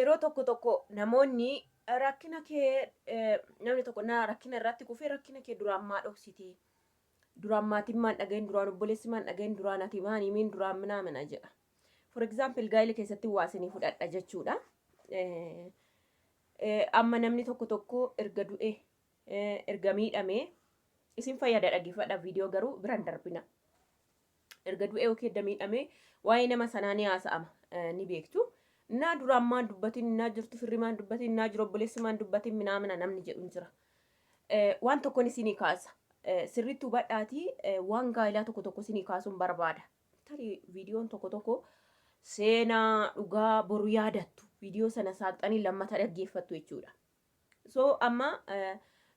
Yeroo tokko tokko namoonni rakkina kee namni tokko na rakkina irratti kufee rakkina kee duraan maa dhoksitee duraan maatiin maan dhagahin duraan obboleessi maan dhagahin duraan ati maan himiin duraan minaa mina jedha. For example gaa'ila keessatti waa isinii fudhadha jechuudha. Amma namni tokko tokko erga du'e erga miidhamee isin fayyada dhaggeeffadha viidiyoo garuu biran darbina. Erga du'ee yookiin erga miidhamee waa'ee nama sanaa ni haasa'ama. Ni beektu. Naa duraan maan dubbatin, naa jirtu firri maan dubbatin, naa jiru obboleessi maan dubbatin minaamina namni jedhu hin jira. Waan tokkon isinii kaasa. Sirriitti hubadhaatii waan gaa'ilaa tokko tokko isinii kaasuun barbaada. Tarii viidiyoon tokko tokko seenaa dhugaa boru yaadattu. Viidiyoo sana saaqxanii lammata dhaggeeffattu jechuudha. So amma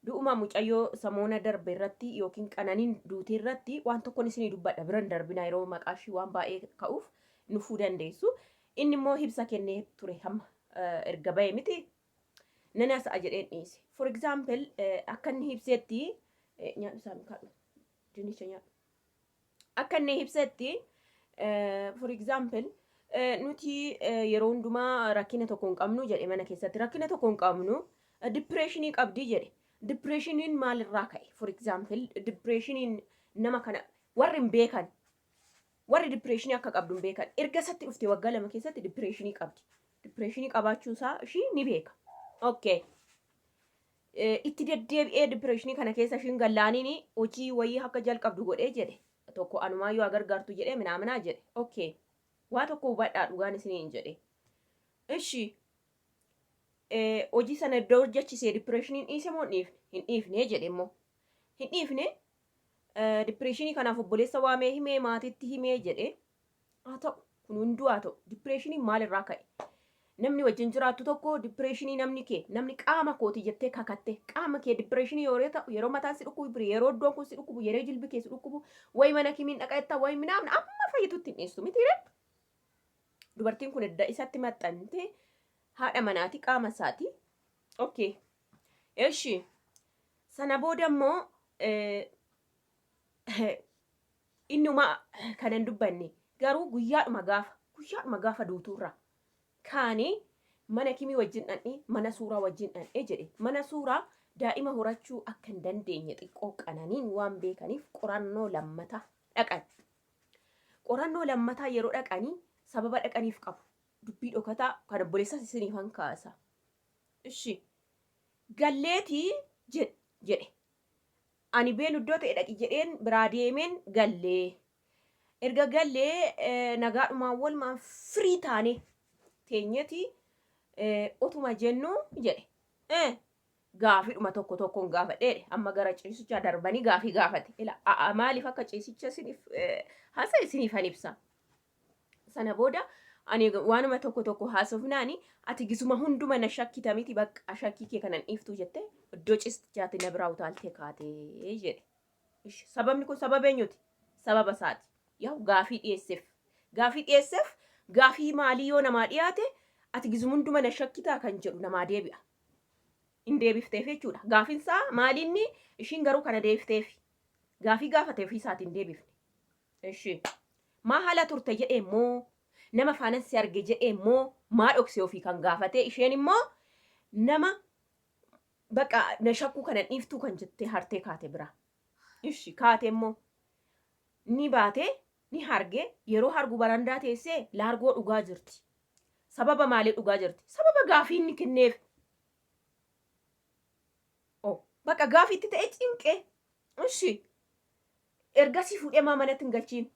du'uma mucayyoo samoona darbe irratti yookiin qananiin duutee irratti waan tokkon isinii dubbadha biran darbina yeroo maqaa ishii waan baay'ee ka'uuf nufuu dandeessu. Inni immoo hibsa kennee ture hamma erga ba'e miti nan hasa'a jedheen dhiise. For example akka inni hibseetti nyaadhu isaa mikaadhu dinicha nyaadhu. Akka inni ibsetti, eh, for example, eh, nuti eh, yeroo hundumaa rakkina tokko hin qabnu jedhe mana keessatti. Rakkina tokko hin qabnu, eh, depression qabdi jedhe. Depressioniin maalirraa ka'e? For example, depressioniin nama kana warri hin beekan, warri depressionii akka qabdu hin beekan. Erga isatti dhufte waggaa lama keessatti depressionii qabdi. Depressionii qabaachuu isaa ishii ni beeka. Okay. Itti deddeebi'ee dipireeshinii kana keessa ishiin gallaaniin hojii wayii akka jalqabdu godhee jedhe tokko anumaa yoo agargaartu jedhee minaaminaa jedhe okay waa tokko hubadhaa dhugaan isiniin jedhe ishi hojii sana iddoo hojjechisee dipireeshiniin dhiise moo hin dhiifne jedhe immoo hin dhiifne dipireeshinii kanaaf obboleessa waamee himee maatiitti himee jedhe Haa ta'u, kun hunduu haa ta'u, dipireeshiniin maalirraa ka'e? Namni wajjin jiraattu tokko dipireeshinii namni kee, namni qaama kooti jettee kakatte, qaama kee dipireeshinii yeroo ta'u, yeroo mataan si dhukkubu biri, yeroo iddoon kun si dhukkubu, yeroo jilbi kee si dhukkubu, wayi mana kimiin dhaqa jettaa, wayi minaamna, amma fayyitutti hin dhiistu miti ree? Dubartiin kun edda isatti maxxante haadha manaati qaama isaati. Okay. Eshi. Sana booda immoo Inni homaa kana hin dubbanne. Garuu guyyaadhuma gaafa, guyyaadhuma gaafa duutuurraa kaanee mana kimii wajjin dhaqne, mana suuraa wajjin dhaqne jedhe. Mana suuraa daa'ima horachuu akka hin dandeenye xiqqoo qananiin waan beekaniif qorannoo lammataa dhaqan. Qorannoo lammataa yeroo dhaqanii sababa dhaqaniif qabu. Dubbii dhokataa kan obboleessas isiniif han kaasa. Ishi galleetii jedhe. Ani beelu iddoo ta'e dhaqi jedheen biraa deemeen galle. Erga gallee nagaadhumaan walumaan firii taane teenyeti otuma jennu jedhe. Eh, gaafidhuma tokko tokkoon gaafadhe jedhe. Amma gara ciisichaa darbanii gaafii gaafate. Ila, a- a- maaliif akka ciisicha isiniif eh, hasa isiniif han ibsa. Sana booda ani waanuma tokko tokko haasofnaani ati gisuma hunduma na shakkita miti bakka shakkii kee kanan dhiiftu jette iddoo cistichaatti na biraa utaaltee kaatee jedhe. Ishi sababni kun sababa eenyuti? Sababa isaati. Yaa gaafii dhiyeesseef. Gaafii dhiyeesseef gaafii maalii yoo namaa dhiyaate ati gisuma hunduma na shakkitaa kan jedhu namaa deebi'a. Hin deebifteef jechuudha. Gaafiin isaa maalinni ishiin garuu kana deebifteef. Gaafii gaafate ofii isaatiin deebifne. Eshi. Maa hala turte jedheen moo nama faanan si arge jedheen moo maa dhokse ofii kan gaafatee isheen immoo nama baqa na shakkuu kanan dhiiftuu kan jettee hartee kaate biraa. Ishi kaate immoo ni baate ni harge yeroo hargu barandaa teessee laargoo dhugaa jirti. Sababa maalii dhugaa jirti? Sababa gaafii inni kenneef. Oh, baqa gaafiitti ta'ee cinqee. Ishi. Ergasii fuudhee maa manatti hin galchiin?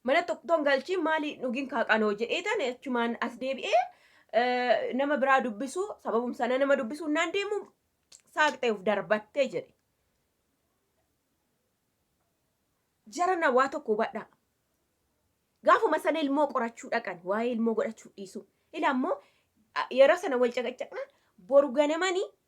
Manatti otoo hin galchiin maali hin dhugin kaa qanoo jedheetan achumaan as deebi'ee nama biraa dubbisuu sababum sana nama dubbisuu naan deemu saaqxee of darbattee jedhe. Jarana waa tokko hubadhaa. Gaafuma sana ilmoo qorachuu dhaqan waa'ee ilmoo godhachuu dhiisu. Ila ammoo yeroo sana wal caqacaqnaan boru ganamanii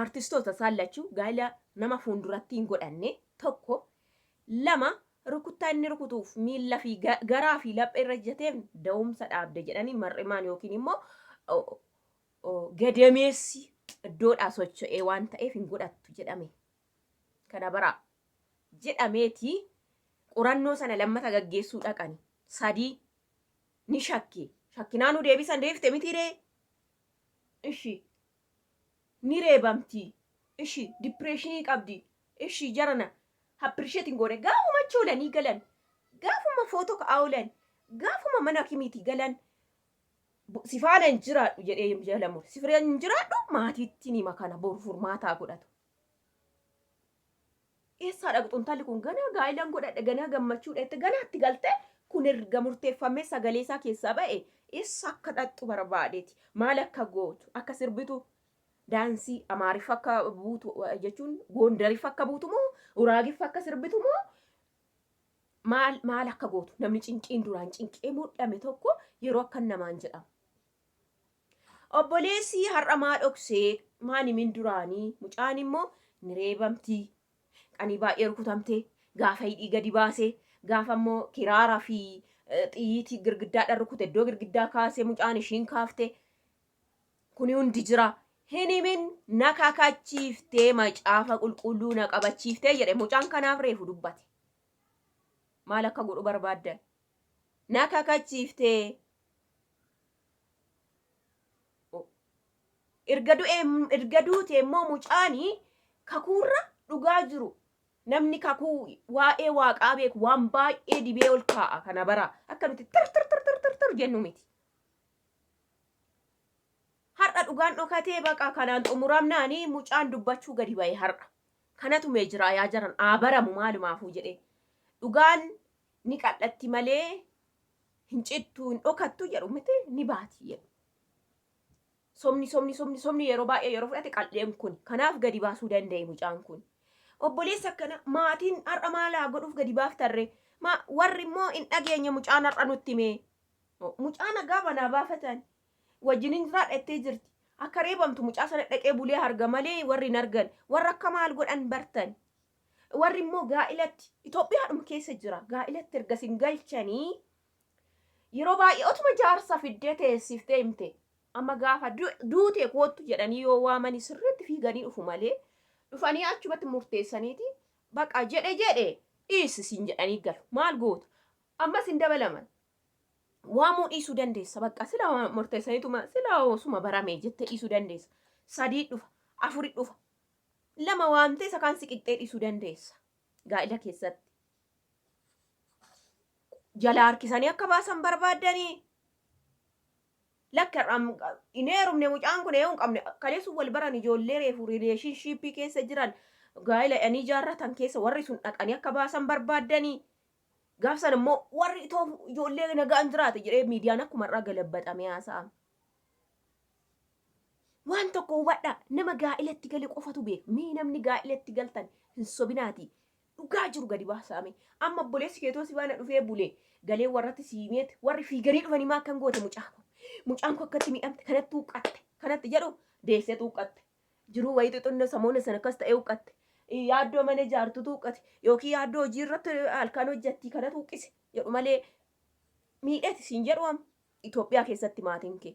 Aartistoota isaan lachuu gaa'ila nama fuulduratti hin godhanne tokko, lama rukuttaa inni rukutuuf miilla fi garaa fi laphee irra ejjateef da'umsa dhaabde jedhanii mar'imaan yookiin immoo gadameessi iddoodhaa socho'ee waan ta'eef hin godhattu jedhame. Kana bara jedhameeti qorannoo sana lammata gaggeessuu dhaqani. Sadii ni shakke. Shakkinaanuu deebisan deebifte mitiiree? Ishi ni reebamti ishi depression qabdi ishi jarana appreciate hin goone gaafuma achi oolanii galan gaafuma photo ka'aa oolan gaafuma mana hakimiiti galan bu- si faana hin jiraadhu jedhee jalamu si faana hin jiraadhu maatiitti nima kana boru furmaataa godhatu Eessaa dhaqxu intalli kun ganaa gaa'ilan godhadhe ganaa gammachuudha jette ganaa itti galte kun erga murteeffamee sagalee isaa keessaa ba'e eessa akka dhaqxu barbaadeeti maal akka gootu akka sirbitu daansii amaariffa akka buutu jechuun goondariffa akka buutu moo uraagiffa akka sirbitu moo maal maal akka gootu namni cinqiin duraan cinqee mudhame tokko yeroo akkan namaan jedhamu. Obboleessii har'a maa dhoksee maan himin duraanii mucaan immoo ni reebamtii qanii baay'ee rukutamtee gaafa hidhii gadi baase gaafa immoo kiraara fi xiyyiitii girgiddaadhaan rukute iddoo girgiddaa kaase mucaan ishiin kaafte kuni hundi jira hin himin na kakachiiftee macaafa qulqulluu na qabachiiftee jedhe mucaan kanaaf reefu dubbate maal akka godhu barbaadda na kakachiiftee erga du'ee erga duute immoo mucaani kakuurra dhugaa jiru namni kakuu waa'ee waaqaa beeku waan baay'ee dibee ol kaa'a kana bara akka nuti tir tir tir tir tir tir jennu miti. Har'a dhugaan dhokatee baqa kanaan xumuramnaani mucaan dubbachuu gadi ba'e har'a. Kanatu mee jiraa yaa jaran aa baramu maalumaafuu jedhee. Dhugaan ni qal'atti malee hin cittu hin dhokattu jedhu miti ni baati jedhu. Somni somni somni somni yeroo baay'ee yeroo fudhate qal'een kun kanaaf gadi baasuu danda'e mucaan kun. Obboleessa akkana maatiin har'a maal haa godhuuf gadi baaftarree ma warri immoo hin dhageenye mucaan har'a nutti mee. Mucaa nagaa manaa baafatan wajjin hin jiraadha jettee jirti. Akka reebamtu mucaa sana dhaqee bulee harga malee warri hin argan warra akka maal godhan bartan. Warri immoo gaa'ilatti, Itoophiyaadhuma keessa jira, gaa'ilatti erga isin galchanii yeroo baay'ee otuma jaarsa fiddee teessiftee himte amma gaafa duute koottu jedhanii yoo waamanii sirriitti fiiganii dhufu malee dhufanii achumatti murteessaniiti baqa jedhe jedhe dhiisi isin jedhanii galu maal goota ammas hin dabalaman waamuu dhiisuu dandeessa baqa sila murteessaniituma sila osuma baramee jette dhiisuu dandeessa sadii dhufa afuri dhufa lama waamtee isa kaan si qixxee dhiisuu dandeessa. Gaa'ila keessatti. Jalaa harkisanii akka baasan barbaaddanii lakka hin heerumne mucaan kun eeyyuu hin qabne kaleessuun wal baran ijoollee reefu rileeshinshiippii keessa jiran gaa'ila dhanii jaarratan keessa warri sun dhaqanii akka baasan barbaaddanii gaafsan immoo warri itoo ijoollee nagaan jiraate jedhee miidiyaan akkuma irraa galabbaxamee haasa'ama. Waan tokko hubadhaa nama gaa'ilatti gale qofatu beeka. Mee namni gaa'ilatti galtan hin sobinaatii dhugaa jiru gadi baasaame. Amma obboleessi keetoo si baana dhufee bulee galee warratti si himeet warri fiiganii dhufanii maa akkan goote mucaa koo. Mucaan koo akkatti miidhamte kanatti huqqatte kanatti jedhu deessetu huqqatte. Jiruu wayii xixinno samoona sana akkas ta'ee huqqatte. Yaaddoo mana ijaartutu huqqate yookiin yaaddoo hojii irratti halkan hojjattii kanatu huqqise jedhu malee miidheeti siin jedhu amma Itoophiyaa keessatti maatiin kee.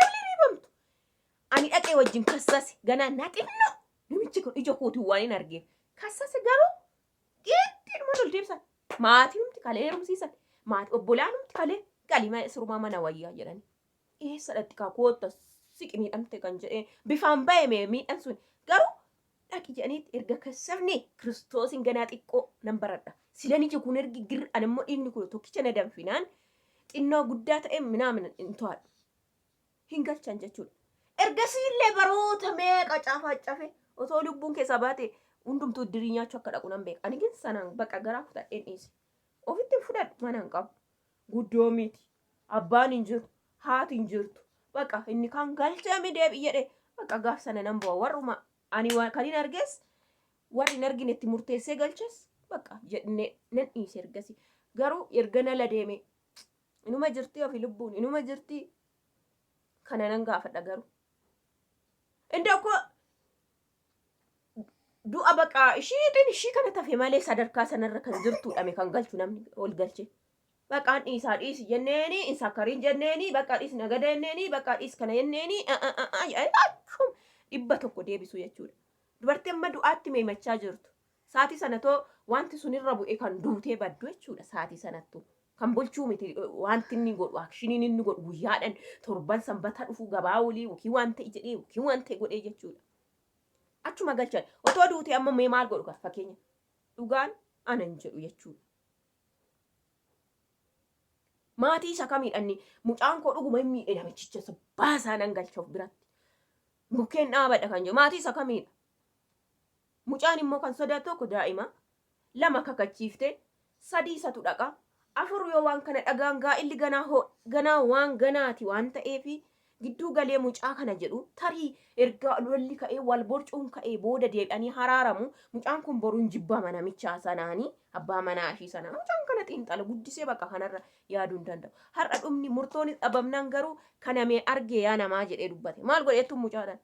Galli riibamtu. Ani dhaqee wajjin kassase ganaa na xinno namichi kun ija kootiin waan hin argeen kassase garuu geeddiidhuma ol deebisan maatinumti kalee heerumsiisan maati obbolaanumti kalee galii ma- sirumaa mana wayyaa jedhani eessa dhaqxikaa kootta siqi miidhamte kan jedhee bifaan ba'e mee miidhan sun garuu dhaqi jedhaniitti erga kassabne Kiristoosin ganaa xiqqoo nan baradha. Sila niji kun ergi gir an immoo dhiigni kun tokkicha na danfinaan xinnoo guddaa ta'e minaamin hin to'adhu. Hin galchan jechuudha. Ergasii illee baroota meeqa caafaaccafe otoo lubbuun keessaa baate hundumtuu dirii nyaachuu akka dhaqu nan beeka. Ani gin sanaan baqa garaa kutadheen dhiise. Ofitti hin fudhadhu mana hin qabu. Guddoo miti. Abbaan hin jiru. Haati hin jirtu. Baqa inni kaan galchee mi deebi jedhe. Baqa gaaf sana nan bu'a. Warruma ani waan kan hin argees warri hin argine itti murteessee galches baqa jedhne nan dhiise ergasi. Garuu erga nala deeme inuma jirti ofi lubbuun inuma jirti kana nan gaafadha garuu. Inda uko du'a baqa ishiitiin ishii kana tafe malee sadarkaa sanarra kan jirtuudhame kan galchu namni ol galchee. Baqaan dhiisaa dhiisi jenneeni hin sakkarin jenneeni baqqa dhiis nagada jenneeni baqqa dhiis kana jenneeni a'a'a'a jedhanii achum dhibba tokko deebisuu jechuudha. Dubartii amma du'aatti meemachaa jirtu. Saatii sanatoo wanti sun irra bu'e kan duutee baddu jechuudha saatii sanattu. Kan bulchuu miti wanti inni godhu akshiniin inni godhu guyyaadhan torban sanbata dhufu gabaa olii yookiin waan ta'e jedhee yookiin waan ta'e godhee jechuudha. Achuma galchan otoo duutee amma mee maal godhu kan fakkeenya dhugaan anan jedhu jechuudha. Maatii isa kamiidha inni mucaan koo dhuguma hin miidhe namichicha isa baasaa nan galcha of biratti. Mukkeen dhaabadha kan jedhu maatii isa kamiidha. Mucaan immoo kan sodaatu tokko daa'ima lama kakachiifte sadii isatu dhaqa afur yoo waan kana dhagaan gaa'illi ganaa hoo ganaa waan ganaati waan ta'eefi Gidduu galee mucaa kana jedhu, tarii erga lolli ka'ee, wal borcuun ka'ee booda deebi'anii haraaramu, mucaan kun boru hin jibbama namichaa sanaani, abbaa manaa ishii sanaa. Mucaan kana xiinxala, guddisee bakka kanarra yaaduu hin danda'u. Har'a dhumni, murtoonis dhabamnaan garuu kana mee argee yaa namaa jedhee dubbate. Maal godheettu mucaadhaan?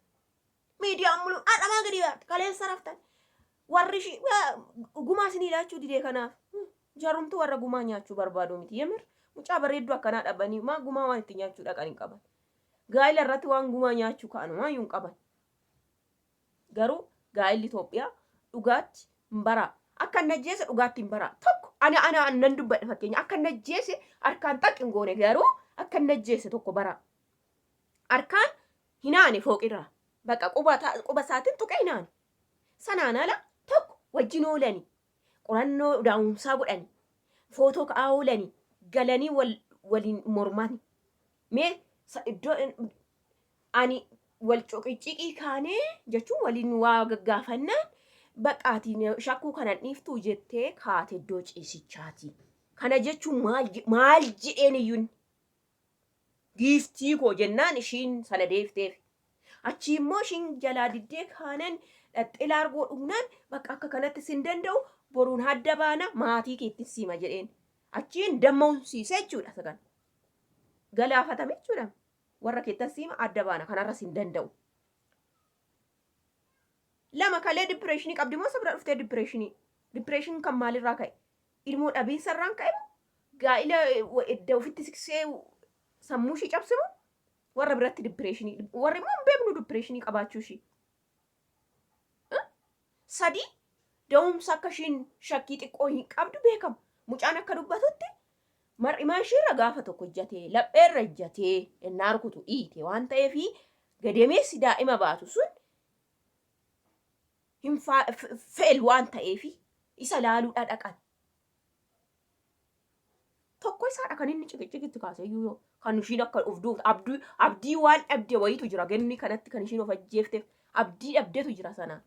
miidiyaan muluu har'amaa gadi baarte kaleessa raftan warri ishii gumaa isinii laachuu didee kanaaf jarumtu warra gumaa nyaachuu barbaadu miti yemir mucaa bareedduu akkanaa dhabanii maa gumaa waan itti nyaachuu dhaqan hin qaban gaa'ila irratti waan gumaa nyaachuu ka'an waan hin qaban garuu gaa'illi Itoophiyaa dhugaatti hin baraa akka hin ajjeese dhugaatti hin baraa tokko ani ana nan dubbadhe fakkeenya akka hin ajjeese harkaan xaq hin goone garuu akka hin ajjeese tokko baraa Harkaan hin aane fooqirraa. Bakka quba ta, quba isaatiin tuqee hin aane. Sanaan ala tokko wajjin oolanii, qorannoo daa'umsaa godhanii, footoo ka'aa oolanii, galanii wal, waliin mormani. Mee sa, iddoo in- ani wal cuqicciqii kaanee jechuun waliin waa gaggaafannaan bakka ati na shakkuu kanan dhiiftuu jettee kaate iddoo ciisichaati. Kana jechuun maal, je- maal jedheen iyyuu inni? Giiftii koo jennaan ishiin sana deefteef. Achii immoo ishiin jalaa diddee kaaneen dhaxxee laargoo dhugnaan bakka akka kanatti sin danda'u boruun hadda baana maatii keettin siima jedheen. Achiin damma'umsiise jechuudha isa kana. Galaafatame jechuudha. Warra keettan siima adda baana kanarra sin danda'u. Lama kalee dipireeshinii qabdi moo isa bira dhuftee dipireeshinii? Dipireeshin kan maalirraa ka'e? Ilmoo dhabiinsa irraan ka'e moo gaa'ila edda ofitti siksee sammuu ishii cabse moo warra biratti dippireeshinii warri immoo hin beeknu dippireeshinii qabaachuu ishii. Sadii da'umsa akka ishiin shakkii xiqqoo hin qabdu beekama. Mucaan akka dubbatutti mar'imaa ishiirra gaafa tokko ijjatee lapheerra ijjatee ennaa rukutu dhiite waan ta'eef gadameessi daa'ima baatu sun hin fail waan ta'eefi isa laaluudha dhaqan. Tokko isaadha kan inni ciqiciqi itti kaase iyyuu yoo kan ishiin akka of duutu abdii abdii waan dhabde wayiitu jira gemmi kanatti kan ishiin of ajjeefteef abdii dhabdetu jira sanaan.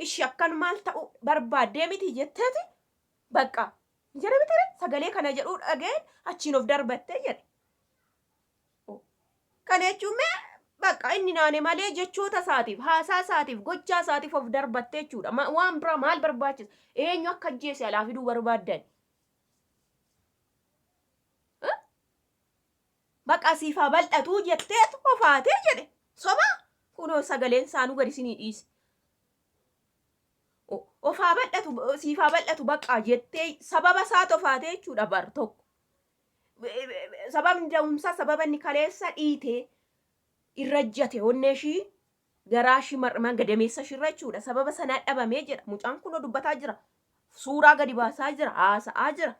Ishi akkan maal ta'uu barbaaddee miti jetteeti bakka jedhe bitare sagalee kana jedhuu dhageen achiin of darbattee jedhe. o. Kana jechuun mee baqqa inni naane malee jechoota isaatiif, haasaa isaatiif, gochaa isaatiif of darbatte jechuudha. Ma- Waan biraa maal barbaachisa? Eenyu akka ajjeese alaa fiduu barbaaddan? Eh? Baqqa siif haa bal'atuu jetteet ofaatee jedhe. Soba kunoo sagaleen isaanuu gadi isinii dhiise. O- Of haa bal'atu, siif haa bal'atu baqqaa jettee sababa isaa tofaatee jechuudha bar tokko. sababni da'umsaa sababa inni kaleessa dhiite irra jate onnee ishii garaa ishii mar'amaan gadameessa ishii irra jechuudha sababa sanaa dhabamee jedha mucaan kunoo dubbataa jira suuraa gadi baasaa jira haasa'aa jira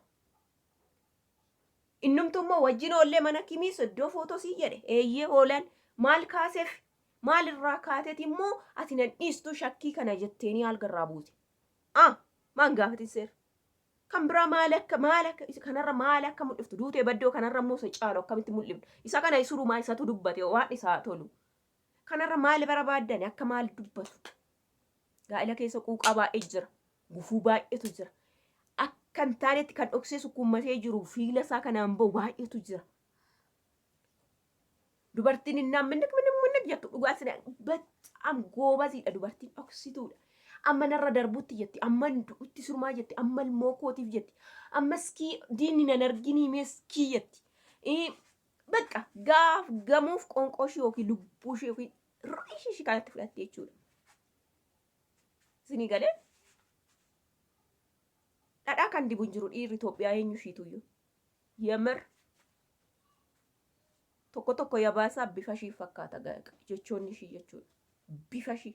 innumtu immoo wajjin oollee mana kimiis iddoo footosii jedhe eeyyee oolan maal kaaseef maal irraa kaateeti immoo ati nan dhiistuu shakkii kana jetteenii algarraa buute ah maan gaafatin seera Kan biraa maali akka maali akka isa kanarra maali akka mul'iftu duutee baddoo kanarra immoo isa caalu akkamitti mul'iftu isa kana isurumaa isatu dubbate waan isaa tolu. Kanarra maali barabaaddani akka maali dubbatu. Gaa'ila keessa quuqaa baay'ee jira. Gufuu baay'eetu jira. Akka hin taanetti kan dhoksee sukkuummatee jiru fiila isaa kanaan ba'u baay'eetu jira. Dubartiin hin naamminnik minnik minnik jettu dhugaa sina baccaam goobasiidha dubartiin dhoksituudha. Amma narra darbutti jetti amma du'utti surmaa jetti amma ilmoo kootiif jetti amma iskii diinni nan arginii mee iskii jetti. Bakka gaaf gamuuf qoonqoo ishee yookiin lubbuu ishee yookiin ru'ii ishee ishee kanatti fudhatti jechuudha. Isinii galee dhadhaa kan dibu hin jiru dhiirri Itoophiyaa eenyu ishiituyyuu. Yemir tokko tokko yabaasaa bifa ishii fakkaata ga- jechoonni ishii jechuudha. Bifa ishii.